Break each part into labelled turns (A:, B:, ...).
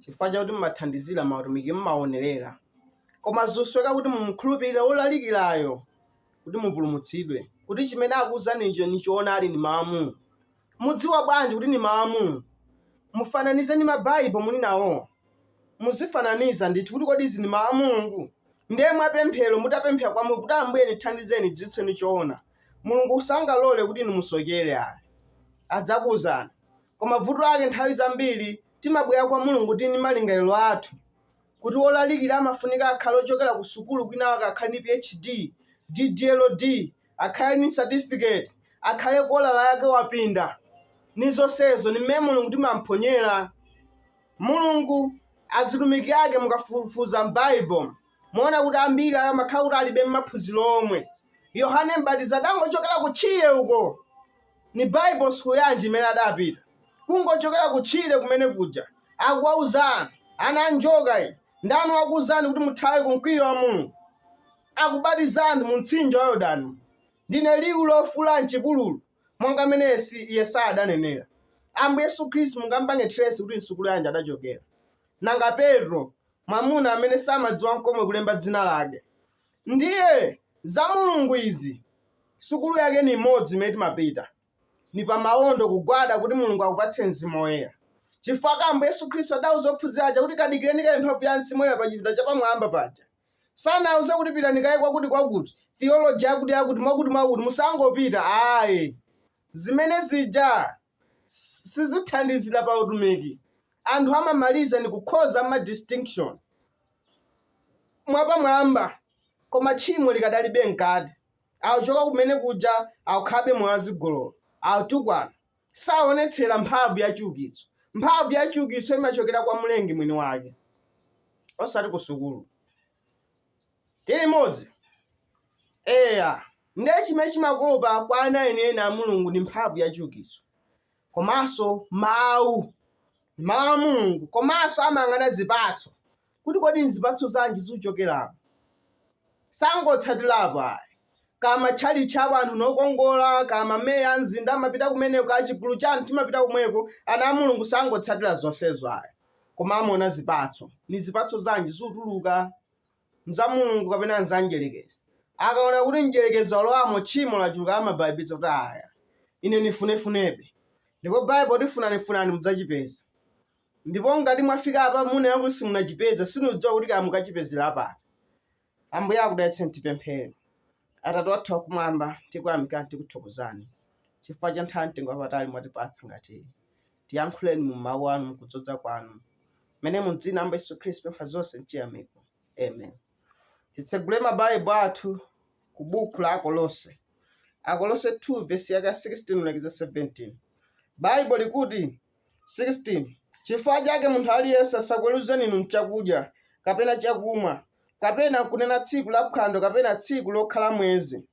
A: chifukwa chakuti mumathandizira mautumiki mumaonerera koma zosowekera kuti mumukhulupirire wolalikirayo kuti mupulumutsidwe kuti chimene akuwuzanicho ni choonadi ni mawu a Mulungu mudziwa bwanji kuti ni mawu a Mulungu mufananize ni mabaibulo muli nawo muzifananiza ndithu kuti kodi izi ni mawu a Mulungu ndiye mwapemphero mutapemphera kwa Mulungu kuti ambuye nithandizeni nidziwitseni choona Mulungu sangalole kuti inu musokere ayi adzakuwuzani Koma bvuto lake nthawi zambiri timabwera kwa Mulungu tiri ndi malingaliro athu, kuti wolalikira amafunika akhale ochokera ku sukulu kwinawake akhale ndi PhD, DDLD, akhale ndi certificate, akhale kolala yake wapinda, ndi zonsezo. Ndi m'mene Mulungu timamphonyera. Mulungu, azitumiki ake mukafufuza m'Bible. Muona kuti ambiri ayo amakhala kuti alibe maphunziro omwe. Yohane Mbatizi adangochokera kutchire uko. Ni Bible school yanji imene adapita? Kungochokera kutchire kumene kuja. Akuwauza anthu, ana a njoka inu. Ndani wakuwuzani kuti muthawe ku mkwiyo wa Mulungu? Akubatiza anthu mu mtsinje wa Yordano. Ndine liwu lofuula m'chipululu, monga mmene Yesi- Yesaya adanenera. Ambuye Yesu Khristu mungampange trace kuti msukulu yanji adachokera. Nanga Petro, mwamuna amene samadziwa nkomwe kulemba dzina lake ndiye za mulungu izi sukulu yake ni imodzi imene timapita ni pamawondo kugwada kuti mulungu akupatse mzimu woyera chifukwa ambuye yesu khristu adauza ophunzira aja kuti kadikireni kaye mphamvu ya mzimu woyera pa chipinda chapamwamba paja sanawauze kuti pitani kaye kwakuti kwakuti theology yakuti yakuti mwakuti mwakuti musangopita ayi zimene zija sizithandizira pa utumiki anthu amamaliza ndikukhoza ma distinction mwapamwamba koma tchimo likadalibe mkati akuchoka kumene kuja akukhalabe moyo wazigololo akutukwana saonetsera mphamvu ya chiukitso mphamvu ya chiukitso imachokera kwa mlengi mwini wake osati ku sukulu Tilimodzi. Eya, ndiye chimene chimakopa kwa ana enieni a Mulungu ndi mphamvu ya chiukitso, komanso Mawu, ndi Mawu a Mulungu, komanso amayang'ana zipatso, kuti kodi nzipatso zanji zikuchokeramo. Sangotsatirapo ayi, kaya matchalitchi awo anthu ndi okongola, kaya mameya a mzinda amapita kumeneko, kaya chigulu cha anthu chimapita komweko, ana a Mulungu sangotsatira zonsezo ayi. koma amaona zipatso. Ni zipatso zanji zikutuluka? N'za Mulungu kapena n'za Mdyelekezi? Akaona kuti Mdyelekezi walowamo, tchimo laculuka, amabaibiza kuti, Aya, ine nifune-funebe. Ndipo Baibo ikuti, Funani-funani mudzacipeza. Ndipo ngati mwafika apa, muyenela kuti simunacipeze. Siniudziwa kuti kaya mukacipezela pati. Ambuye akudalitseni tipemphere. Atate wathu wakumwamba, tikuyamikani tikuthokozani chifukwa cha nthawi mtengo wapatali mwatipatsa ngati iyi. Tiyankhuleni mu mawu anu mukudzodza kwanu mmene mu dzina amba Yesu Khristu pempha zonse mchiyamiko. Amen. Titsegule mabaibulo athu ku buku la Akolose. Akolose 2 vesi yake 16 kulekeza 17. Baibulo likuti 16 chifukwa chake munthu aliyense asakuweruzeni inu m'chakudya, kapena chakumwa, kapena m'kunena tsiku la phwando kapena tsiku lokhala mwezi,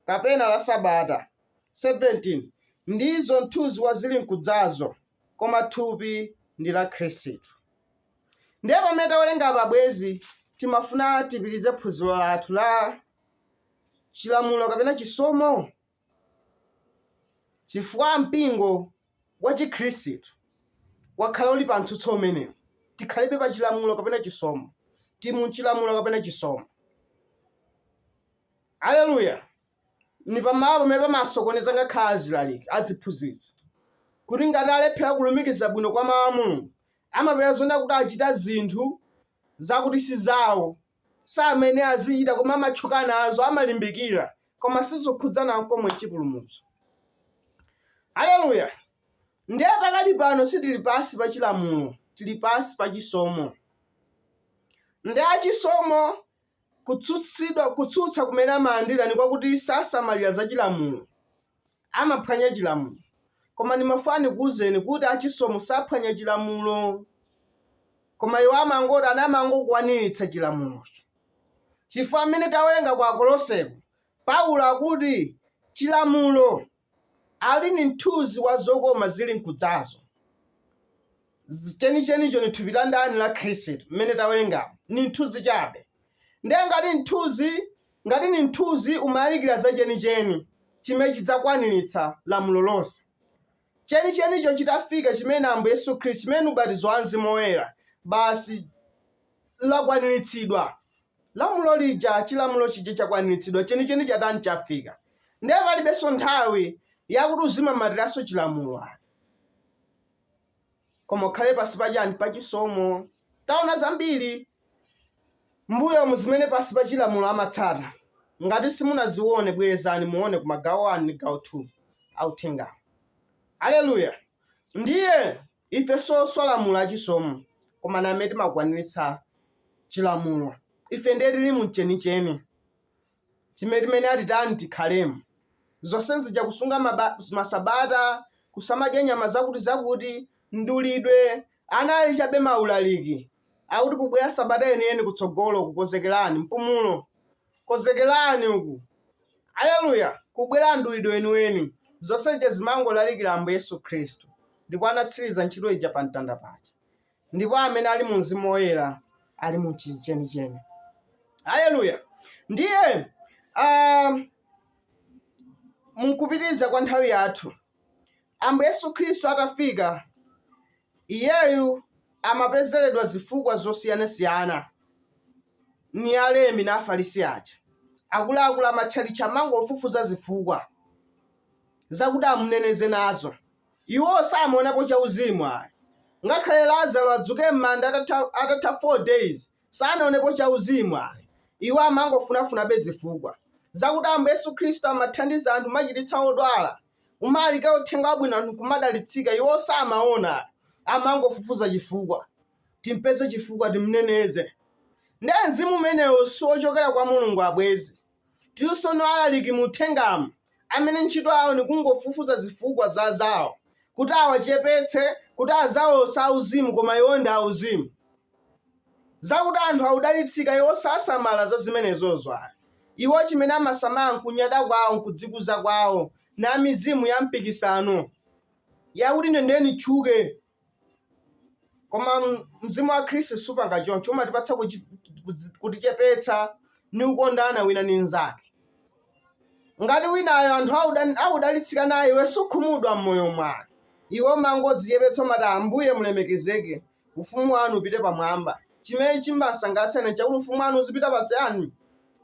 A: kapena la sabata, 17 ndizo mthunzi wa zilinkudzazo, koma thupi ndi la Khristu. Ndiye pamene tawerenga apa bwenzi timafuna tipitirize phunziro lathu la chilamulo kapena chisomo Chifukwa mpingo wachikhristu wakhala uli pa mtsutso umenewu, tikhalebe pa chilamulo kapena chisomo, tili mu chilamulo kapena chisomo. Aleluya! Ndi pamalo pamene pamasokoneza ngakhale azilaliki, aziphunzitsi, kuti ngati alephera kulumikiza bwino kwa Mau a Mulungu, amapeza zoona kuti achita zinthu zakuti si zawo. samene azichita koma amatchuka nazo amalimbikira koma sizokhudzana nkomwe nchipulumutso haleluya ndiye pakali pano sitili pansi pa chilamulo tili pansi pa chisomo ndiye achisomo kutsutsidwa kutsutsa kumene amalandira ndi kwakuti sasamalira za chilamulo amaphwanya chilamulo. Koma ndimafuna ndikuuzeni kuti a Chisomo saphwanya chilamulo. Koma iwo amangoti ana amangokwaniritsa chilamulocho. Chifukwa mmene tawerenga ku Akoloseko, Paulo akuti chilamulo ali ni mthunzi wa zokoma zili nkudzazo. Z- Chenichenicho ni thupi la ndani la Khristu mmene tawerengamu. Ni mthunzi chabe. Ndiye ngati mthunzi Ngati ni mthunzi, umalalikila za ceniceni cimene cidzakwanilitsa lamulo lonse. Cenicenico citafika, cimene ni Ambuye Yesu Khristu, cimene ni ubatizo wa mzimu woyela, basi lakwanilitsidwa lamulo lija. Cilamulo cija cakwanilitsidwa, ceniceni catani? Cafika. Ndiye palibenso nthawi yakuti uzimamatilanso Cilamulo ayi, koma ukhale pansi pa ciani? Pa cisomo. Taona zambili. M'mbuyomu zimene pansi pa chilamulo amatsata, ngati simunaziwone bwerezani muone ku magawo 1 ndi gawo 2 a uthengawu. Aleluya! Ndiye, ife soswa lamulo a chisomo, koma ndi amene timakwaniritsa chilamulo. Ife ndiye tiri mu m'chenicheni. chimene atitani tikhalemo zonse zija kusunga masabata kusamadya nyama zakuti zakuti mdulidwe anali chabe maulaliki akuti kukubwera sabata yeniyeni kutsogolo kukonzekerani mpumulo konzekerani uku aleluya kukubwera mdulidwe weniweni zonse zija zimangolalikira ambuye yesu khristu ndipo anatsiriza ntchito ija pa mtanda paja ndipo amene ali mu mzimu woyera ali mu chenicheni haleluya ndiye um, munkupitiriza kwa nthawi yathu ambuye yesu khristu atafika iyeyu amapezeredwa zifukwa zosiyanasiyana ni alembi na afarisi aja akuluakulu amatchalitchi amangofufuza zifukwa zakuti amuneneze nazo Iwo samaonapo chauzimu ayi. Ngakhale Lazaro adzuke mmanda atatha 4 days, sanaonepo chauzimu ayi. Iwo amangofunafunabe zifukwa, zakuti Ambuye Yesu Khristu amathandiza anthu kumachiritsa odwala, kumalalikira uthenga wabwino anthu nkumadalitsika, iwo samaona ayi. Amangofufuza chifukwa. Timpeze chifukwa, timneneze. Nde mzimu umenewo siwochokera kwa Mulungu abwezi. Tilinso no alaliki mu uthengamu amene ntchito yawo ni kungofufuza zifukwa za azawo kuti awachepetse, kuti azawo si auzimu koma iwo ndi auzimu. Zakuti anthu akudalitsika iwo sasamala za zimenezozo ayi. Iwo chimene amasamala n'kunyada kwawo n'kudzikuza kwawo na mizimu ya mpikisano yakuti ine ndiye nitchuke koma mzimu wa khristu supanga choncho umatipatsa kudzichepetsa ni kukondana wina ni mnzake ngati winayo anthu akudalitsika naye iwe sukhumudwa m'moyo mwako iwe umangodzichepetsa umati ambuye mulemekezeke ufumu wanu upite pamwamba chimene chimbasangalatsa ni chakuti ufumu wanu uzipita patsani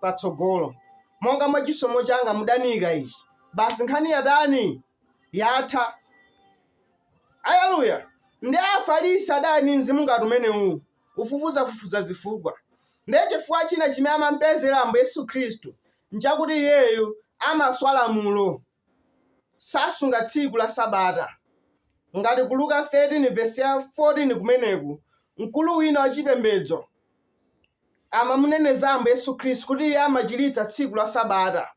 A: patsogolo monga mwa chisomo changa mudaniika ichi basi nkhani yatani yatha. Aleluya! Ndiye Afarisi adali ni mzimu ngati umenewu, kufufuzafufuza zifukwa. Ndiye chifukwa china chimene amampezera Ambuye Yesu Khristu nchakuti iyeyu amaswa lamulo, sasunga tsiku la Sabata. Ngati ku Luka 13 vesi ya 14 kumeneku, mkulu wina wachipembedzo amamuneneza Ambuye Yesu Khristu kuti Iye amachiritsa tsiku la Sabata.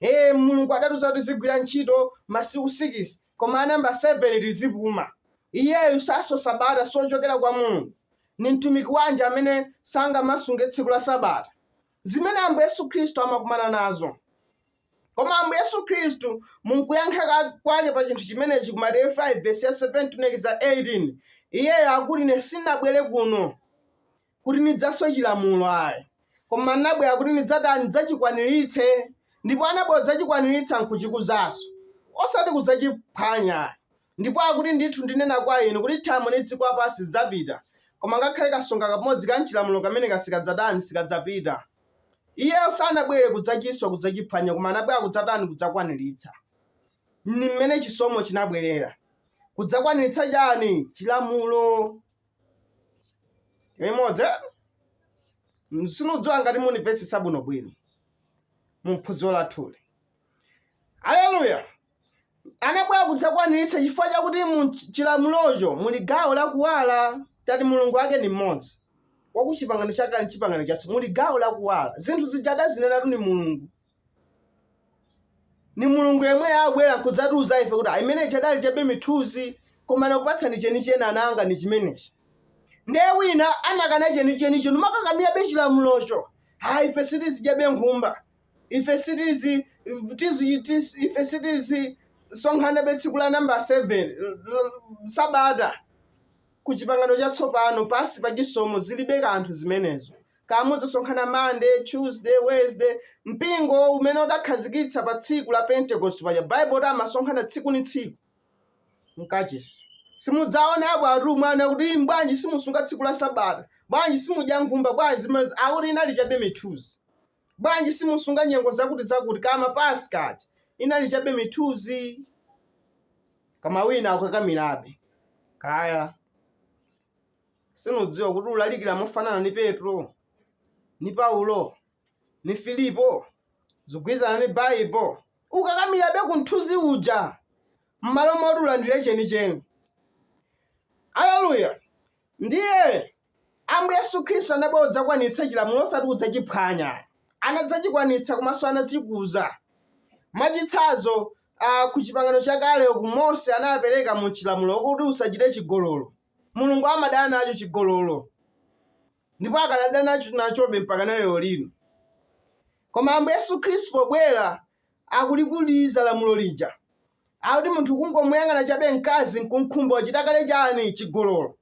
A: Ee, Mulungu adatiuza kuti tizigwira ntchito masiku sikisi, koma a namba seveni tizipuma. Iyeyu sasunga Sabata, si wochokera kwa Mulungu. Ni mtumiki wanji amene sangamasunge tsiku la Sabata? Zimene Ambuye Yesu Khristu amakumana nazo. Koma Ambuye Yesu Khristu mu nkuyankha ka- kwake pa chinthu chimenechi ku Mateyu 5 vesi ya 17 tu 18, Iyeyo akuti ine sinabwere kuno kuti nidzaswe cilamulo ayi, koma n'nabwela kuti nidzatani? Nidzacikwanilitse. Ndipo anabwela kudzacikwanilitsa n'kucikuzanso, osati kudzaciphwanya ayi. Ndipo akuti, Ndithu ndinena kwa inu, kuti thambo ndi dziko lapansi zidzapita, koma ngakhale kasonga kamodzi ka m'cilamulo kameneka sikadzatani? Sikadzapita. Iye sanabwele kudzaciswa, kudzaciphwanya, koma anabwela kudzatani? Kudzakwanilitsa. Ni mmene cisomo cinabwelela. Kudzakwanilitsa ciani? Cilamulo. limodzi sinudziwa ngati munimvetsetsa bwinobwino mu phunziro lathuli aleluya anabwera kudzakwaniritsa chifukwa chakuti mu chilamulocho muli gawo la kuwala tati mulungu wake ni mmodzi wakuchipangano chakale ndi chipangano chatsopano muli gawo la kuwala zinthu zija adazinenatu ni mulungu ni mulungu yemwe wabwera nkudzatiuza ife kuti imene ija idali chabe mithunzi koma nakupatsani chenicheni ana anga ni chimenechi ndiye wina amakana chenichenicho numakakamirabe chilamulocho ha ife sitizidyabe nkhumba ife sitizi tizi- tizi- ife sitizisonkhanabe tsiku la namba 7 sabata ku chipangano chatsopano pansi pa chisomo zilibe kanthu zimenezo Kaya muzisonkhana Monday, Tuesday, Wednesday, mpingo umene udakhazikitsa pa tsiku la Pentecost paja Bible itati amasonkhana tsiku ni tsiku mkachisi. Simudzaone apo atumwi ananena kuti "Inu bwanji simusunga tsiku la sabata, bwanji simudya nkhumba, bwanji zimene akuti inali chabe mithunzi, bwanji simusunga nyengo zakuti zakuti kama Paska aja inali chabe mithunzi koma wina akukakamirabe kaya sinudziwa kuti ulalikira mofanana ni petro ni paulo ni filipo zigwirizana ni baibo ukakamirabe ku mthunzi uja m'malo moti ulandire chenicheni aleluya ndiye ambuye yesu khristu anabwera kudzakwanitsa chilamulo osati kudzachiphwanya anadzachikwanitsa komanso anachikuza mwachitsanzo A, ku Chipangano Chakale uku, Mose anapereka mu chilamulo kuti usachite chigololo. Mulungu amadana nacho chigololo, ndipo akadadana nacho nachobe mpakana lero lino. Koma Ambuye Yesu Khristu pobwera akulikuza lamulo lija, akuti munthu kungomuyang'ana chabe mkazi nkumkhumba wachita kale chani? Chigololo.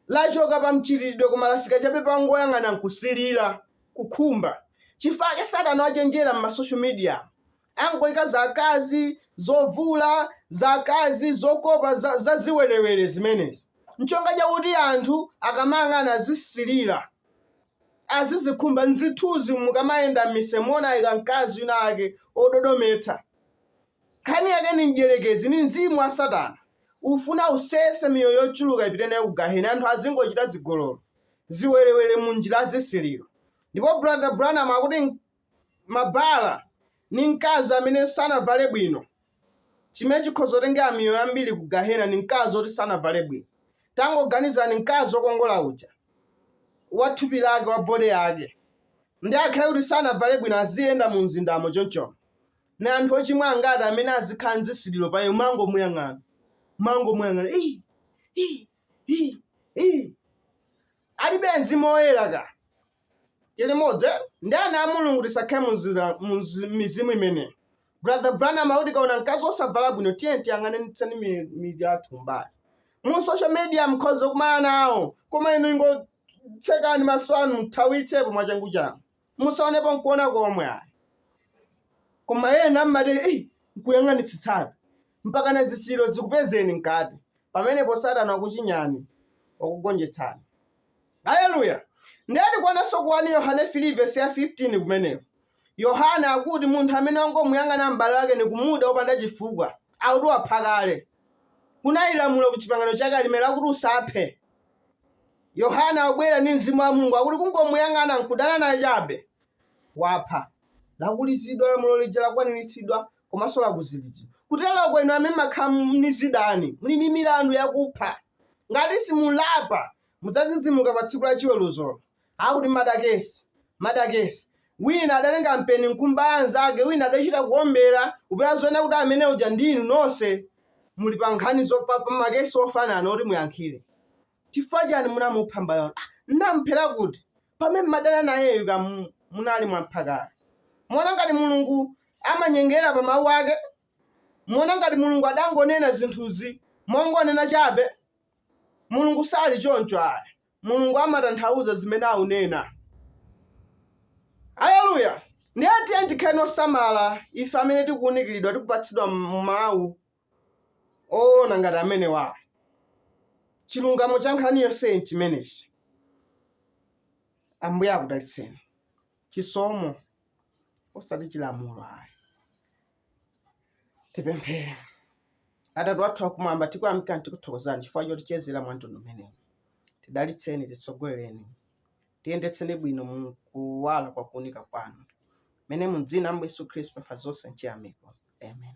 A: Lachoka pa mchitidwe koma lafika chabe pa kungoyang'ana nkusilira, kukhumba. Chifukwa ake satana wachenjera mma social mediamu. Angoika za akazi, zovula, za akazi, zokopa, za, za ziwerewere zimenezi. Ncholinga chakuti anthu akamayang'ana azisilira, azizikhumba. Nzithunzi mukamayenda mmiseu muona aika mkazi wina ake ododometsa. Nkhani yake ni Mdyerekezi, ni mzimu wa Satana. Ufuna usese miyoyo yochuluka ipite nayo ku Gahena. Anthu azingochita zigololo, ziwerewere mu njira ya zisiliro. Ndipo Brother Branham akuti mabala ni mkazi amene sanavale bwino. Chimene chikhoza kutengera miyoyo yambiri ku Gahena ni mkazi woti sanavale bwino. Tangoganizani mkazi wokongola uja, wa thupi lake, wa body yake, ndiye akhale kuti sanavale bwino aziyenda mu mzindamo chonchono. Ni anthu ochimwa angati amene azikhala ndi zisiliro pa iye, kumangomuyang'ana, kumangomuyang'ana, ii, ii, ii, ii. Alibe Mzimu Woyera ka? Tili limodzi eti? Ndiye ana a Mulungu tisakhale mu zira, mu mzi- mizimu imeneyi. Brother Branham akuti tikaona mkazi wosavala bwino tiyeni tiyang'anitseni mi- mitu yathu kumbali. Mu social media mukhoza kukumana nawo, koma inu ingotsekani maso anu muthawitsepo mwachanguchangu. Musaonepo nkuona komwe ayi. Koma ena mmati, Ei, nkuyang'anitsitsabe. Mpakana zisiliro zikupezeni mkati. Pamenepo Satana wakuchinyani, wakugonjetsani. Aleluya! Ndiye tikuonanso ku 1 Yohane 3 vesi ya 15 kumeneko. Yohane akuti munthu amene wangomuyang'ana m'bale wake nikumuda opanda chifukwa, akuti wapha kale. Kunali lamulo ku Chipangano Chakale limene likuti usaphe. Yohane akubwera ndi Mzimu wa Mulungu, akuti kungomuyang'ana nkudana naye chabe, wapha. Lakulizidwa lamulo lija lakwaniritsidwa, komanso lakuzidwa. Kutero kuti inu amene mumakhala ni zidani, muli ndi milandu yakupha. Ngati simulapa, mudzadzidzimuka pa tsiku la chiweruzolo. Akuti madakesi, madakesi. Wina adatenga mpeni nkumbaya mzake, wina adachita kuombera, apa muziona kuti amene uja ndi inu nonse muli pa nkhani zo pa, pa makesi ofanana oti muyankhire. Chifukwa chani munamupha m'bale wanu? Ah, ndinamuphera kuti pamene mmadana nayeyu ka mu- munali mwampha kale. Muona ngati Mulungu amanyengerera pa mawu ake? Muona ngati Mulungu adangonena zinthuzi mongonena chabe? Mulungu sali choncho ayi. Mulungu amatanthauza zimene aunena. Haleluya! Ndiye tiyeni tikhale osamala ife amene tikuwunikiridwa tikupatsidwa mawu oona ngati amenewa. Chilungamo cha nkhani yonseyi n'chimenechi. Ambuye akudalitseni. Chisomo osati chilamulo ayi. Tipemphere. Atate wathu akumwamba tikuyamikani tikuthokozani chifukwa chotichezera mwa mtundu umenewu. Tidalitseni, titsogolereni. tiyendetseni bwino mu kuwala kwa kuunika kwanu mene mu dzina la Yesu Khristu pa zonse nchiyamiko amen